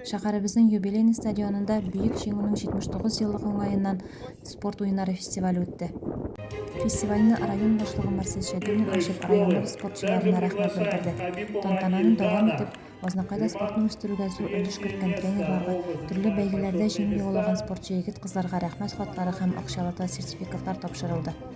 Шәһәребезнең юбилейный стадионында Бөек Җиңүнең 79 еллык уңаеннан спорт уеннары фестивале үтте. Фестивальне район башлыгы Марсель Шәйдуллин ачып, районыбыз спортчыларына рәхмәт белдерде. Тантананы дәвам итеп, Азнакайда спортны үстерүгә зур өлеш керткән тренерларга, төрле бәйгеләрдә җиңү яулаган спортчы егет-кызларга рәхмәт хатлары һәм акчалата сертификатлар тапшырылды.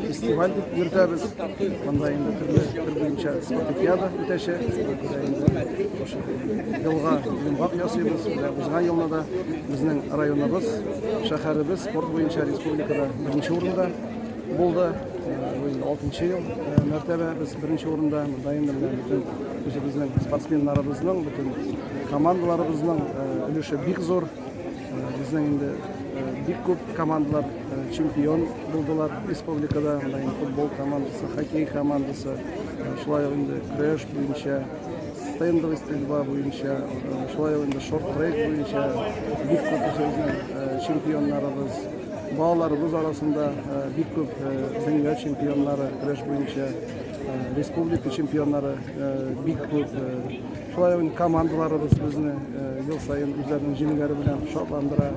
Фестиваль дип йөртәбез. Монда инде төрле төр буенча спартакиада үтәчәк. Елга йомгак ясыйбыз. Узган елны да безнең районыбыз, шәһәребез спорт буенча республикада беренче урында булды. Бу алтынчы ел мәртәбә без беренче урында. Монда инде бөтен үзебезнең спортсменнарыбызның, бөтен командаларыбызның өлеше бик зур. Безнең инде бик күп командалар чемпион булдылар республикада. Анда инде футбол командасы, хоккей командасы, шулай ук инде көрәш буенча, стендовый стрельба буенча, шулай ук инде шорт-трек буенча бик күп үзебезнең чемпионнарыбыз балаларыбыз арасында бик күп дөнья чемпионнары көрәш буенча республика чемпионнары бик күп Шулай ук командаларыбыз безне ел саен үзләренең җиңүләре белән шатландыра.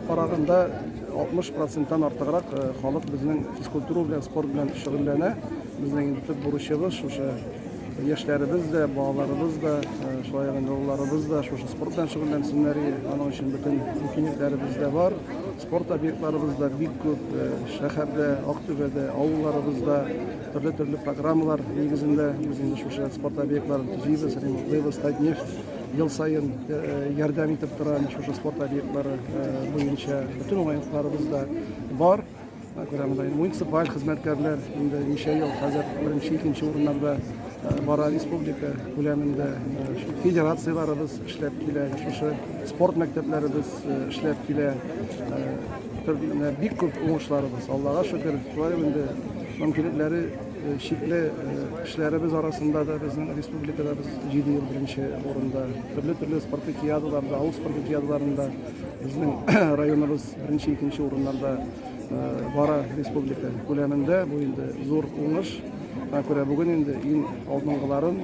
Караганда 60 проценттан артыграк халык безнең физкультура белән, спорт белән шөгыльләнә. Безнең инде төп бурычыбыз шушы яшьләребез дә, балаларыбыз да, шулай ук олыларыбыз да шушы спорт белән шөгыльләнсеннәр. Аның өчен бөтен мөмкинлекләребез дә бар. Спорт объектларыбыз да бик күп. Шәһәрдә, Актүбәдә, авылларыбызда Төрле-төрле программалар нигезендә без инде шушы спорт объектларын төзибез, ремонтлыйбыз. Татнефть ел саен ярдәм итеп тора шушы спорт объектлары буенча. Бөтен уңайлыкларыбыз да бар. Күрәмдә муниципаль хезмәткәрләр инде ничә ел хәзер беренче, икенче урыннарда бара республика күләмендә. Федерацияләребез эшләп килә, шушы спорт мәктәпләребез эшләп килә. Менә бик күп уңышларыбыз, Аллага шөкер, шулай инде мөмкинлекләре э, чикле э, эшләребез арасында да безнең республикада без җиде ел беренче урында. Төрле төрле спартакиадаларда, авыл спартакиадаларында безнең районыбыз беренче, икенче урыннарда э, бара республика күләмендә. Бу инде зур уңыш. Шуңа күрә бүген инде иң алдынгыларын,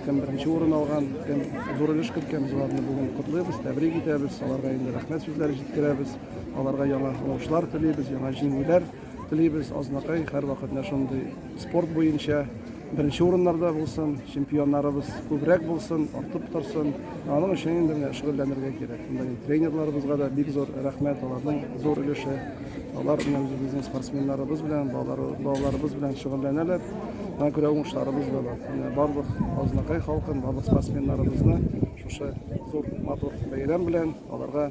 кем беренче урын алган, кем зур өлеш керткән, без аларны бүген котлыйбыз, тәбрик итәбез, аларга инде рәхмәт сүзләре җиткерәбез. Аларга яңа уңышлар телибез, яңа җиңүләр телибез. Азнакай һәрвакыт менә шундый спорт буенча беренче урыннарда булсын, чемпионнарыбыз күбрәк булсын, артып торсын. Аның өчен инде менә шөгыльләнергә кирәк. Монда тренерларыбызга да бик зур рәхмәт, аларның зур өлеше. Алар белән безнең спортсменнарыбыз белән, балалар, балаларыбыз белән шөгыльләнәләр. Аңа күрә уңышларыбыз да бар. Менә барлык Азнакай халкын, барлык спортсменнарыбызны шушы зур матур бәйрәм белән аларга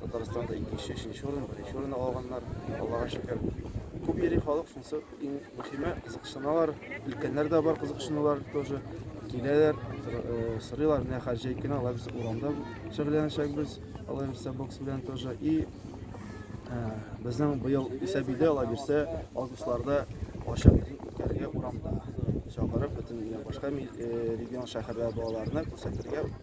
Татарстанда икенче, өченче урын, беренче урын алганнар, Аллага шөкер. Күп йөри халык, шунысы иң мөһиме, кызыксыналар. Өлкәннәр дә бар кызыксынулар тоже. Киләләр, э, сорыйлар, менә хәзер җәй көне алар без урамда шөгыльләнәчәкбез, алар бирсә бокс белән тоже. И э, безнең быел исә биде, алар бирсә августларда ачык үткәрергә урамда. Чакырып бөтен башка э, регион шәһәрләр балаларына күрсәтергә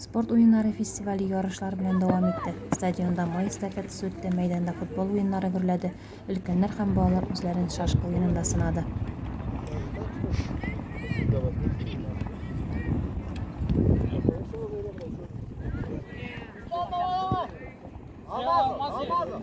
Спорт уеннары фестивале ярышлар белән дәвам итте. Стадионда май эстафетасы үтте, мәйданда футбол уеннары гөрләде, өлкәннәр һәм балалар үзләрен шашка уенында сынады. Алмазов, Алмазов.